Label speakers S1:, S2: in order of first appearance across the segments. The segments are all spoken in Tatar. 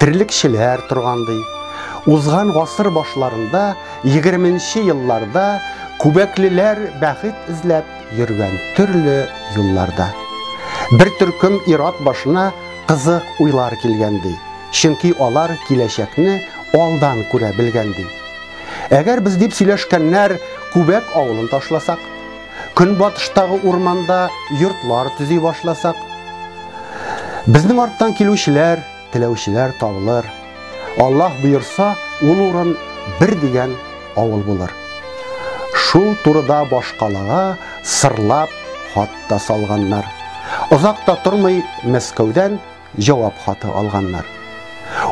S1: Терлекчеләр торган ди. Узган гасыр башларында, егерменче елларда күбәклеләр бәхет эзләп йөргән төрле юлларда. Бер төркем ир-ат башына кызык уйлар килгән ди, чөнки алар киләчәкне алдан күрә белгән ди. Әгәр без дип сөйләшкәннәр Күбәк авылын ташласак, көнбатыштагы урманда йортлар төзи башласак, безнең арттан килүчеләр Теләүчеләр табылыр. Аллаһ боерса, ул урын бер дигән авыл булыр. Шул турыда башкалага сырлап хат та салганнар. Озак та тормый Мәскәүдән җавап хаты алганнар.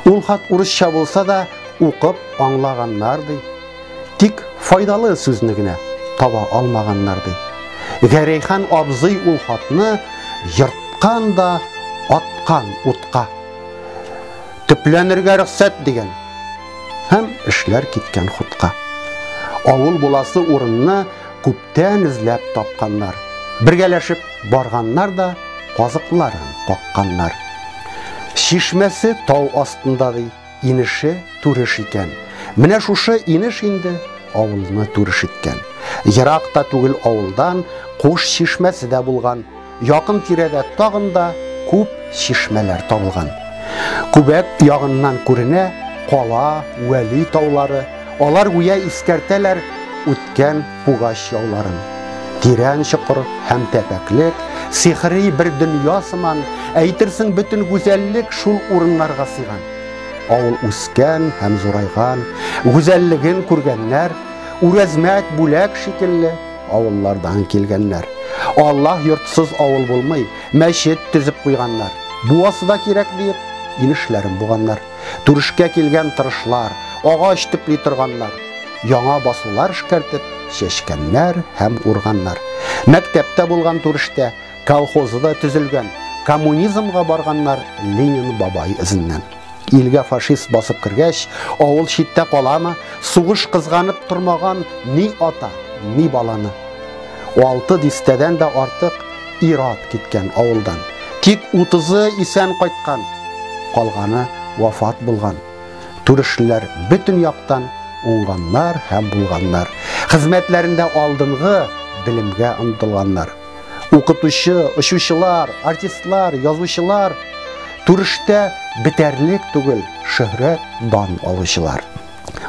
S1: Ул хат урысча булса да, укып аңлаганнар ди. Тик файдалы сүзне генә таба алмаганнар ди. Гәрәйхан абзый ул хатны ерткан да аткан утка. Төпләнергә рөхсәт дигән һәм эшләр киткән хутка. Авыл буласы урынны күптән эзләп тапканнар. Бергәләшеп барганнар да казыкларын какканнар. Чишмәсе тау астында ди. Инеше Түреш икән. Менә шушы инеш инде авылны Түреш иткән. Ерак та түгел авылдан Куш чишмәсе дә булган. Якын тирәдә тагын да күп чишмәләр табылган. Күбәк ягыннан күренә Кала, Вәли таулары. Алар гүя искәртәләр үткән Пугач яуларын. Тирән чокыр һәм тәпәклек, сихри бер дөнья сыман, әйтерсең бөтен гүзәллек шул урыннарга сыйган. Авыл үскән һәм зурайган, гүзәллеген күргәннәр, үрәзмәт бүләк шикелле авыллардан килгәннәр. Аллаһ йортсыз авыл булмый, мәчет төзеп куйганнар. Буасы да кирәк диеп, инешләрен буганнар. Түрешкә килгән тырышлар, агач төпли торганнар, яңа басулар эшкәртеп, чәчкәннәр һәм урганнар. Мәктәптә булган түрештә, колхозы да төзелгән, коммунизмга барганнар Ленин бабай эзеннән. Илгә фашист басып кергәч, авыл читтә каламы, сугыш кызганып тормаган ни ата, ни баланы. Алты дистәдән дә артык Ир-ат киткән авылдан. Тик утызы исән кайткан, калганы вафат булган. Түрешлеләр бөтен яктан уңганнар һәм булганнар. Хезмәтләрендә алдынгы белемгә омтылганнар. Укытучы, очучылар, артистлар, язучылар, түрештә бетәрлек түгел шөһрәт, дан алучылар.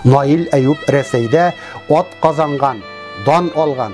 S1: Наил Әюп Рәсәйдә ат казанган, дан алган.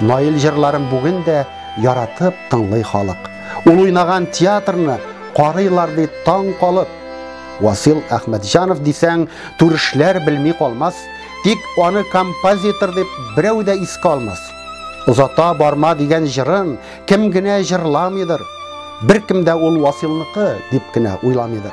S1: Наил җырларын бүген дә яратып тыңлый халык. Ул уйнаган театрны карыйлар ди таң калып. Васил Әхмәтҗанов дисәң, түрешләр белми калмас, тик аны композитор дип берәү дә искә алмас. Озата барма дигән җырын кем генә җырламыйдыр. Беркем дә ул Василныкы дип кенә уйламыйдыр.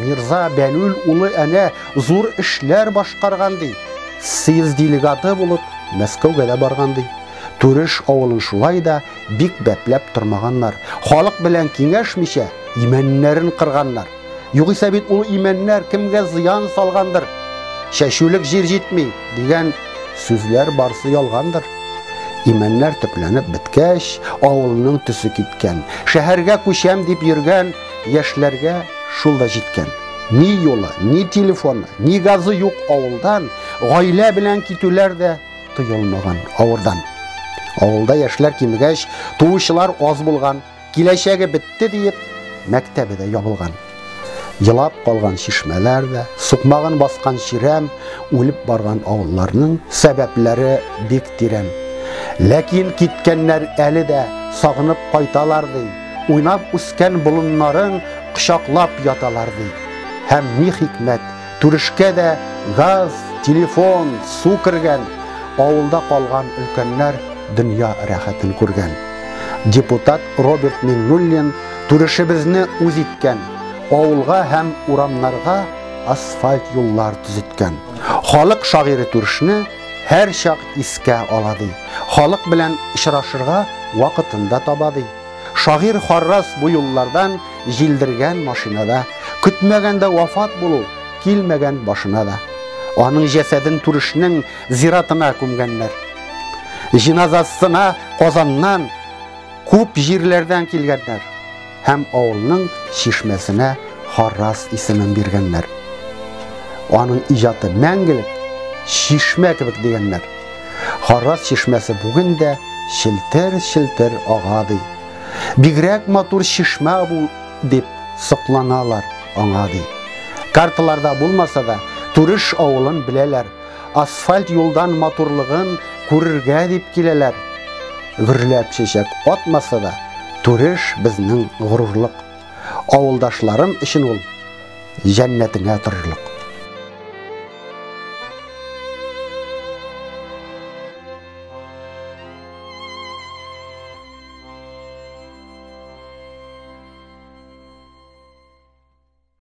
S1: Мирза Бәлүл улы әнә зур эшләр башкарган ди. Съезд делегаты булып Мәскәүгә дә барган ди. Түреш авылын шулай да бик бәпләп тормаганнар. Халык белән киңәшмичә, имәннәрен кырганнар. Югыйсә бит ул имәннәр кемгә зыян салгандыр. Чәчүлек җир җитми, дигән сүзләр барсы ялгандыр. Имәннәр төпләнеп беткәч, авылның төсе киткән. Шәһәргә күчәм дип йөргән Яшьләргә шул да җиткән. Ни юлы, ни телефоны, ни газы юк авылдан, гаилә белән китүләр дә тыелмаган авырдан. Авылда яшьләр кимегәч, туучылар аз булган, киләчәге бетте диеп, мәктәбе дә ябылган. Елап калган чишмәләр дә, сукмагын баскан чирәм, үлеп барган авылларның сәбәпләре бик тирән. Ләкин киткәннәр әле дә сагынып кайталар ди. Уйнап үскән болыннарың кочаклап яталар ди. Һәм ни хикмәт, түрешкә дә газ, телефон, су кергән, авылда калган өлкәннәр дөнья рәхәтен күргән. Депутат Роберт Миңнуллин түрешебезне үз иткән, авылга һәм урамнарга асфальт юллар төзеткән. Халык шагыйре түрешне һәрчак искә ала ди. Халык белән очрашырга вакытын да таба ди. Шагыйрь Харрас бу юллардан җилдергән машинада, көтмәгәндә вафат булу килмәгән башына да. Аның җәсәден Түрешнең зиратына күмгәннәр. Җиназасына Казаннан, күп җирләрдән килгәннәр. һәм авылның чишмәсенә Харрас исемен биргәннәр. Аның иҗаты мәңгелек чишмә кебек дигәннәр. Харрас чишмәсе бүген дә челтер-челтер ага ди. Бигрәк матур чишмә бу дип сокланалар аңа ди. Карталарда булмаса да, Турыш авылын беләләр. Асфальт юлдан матурлыгын күрергә дип киләләр. Гөрләп чәчәк атмаса да, Түреш безнең горурлык. Авылдашларым өчен ул җәннәтеңә торырлык.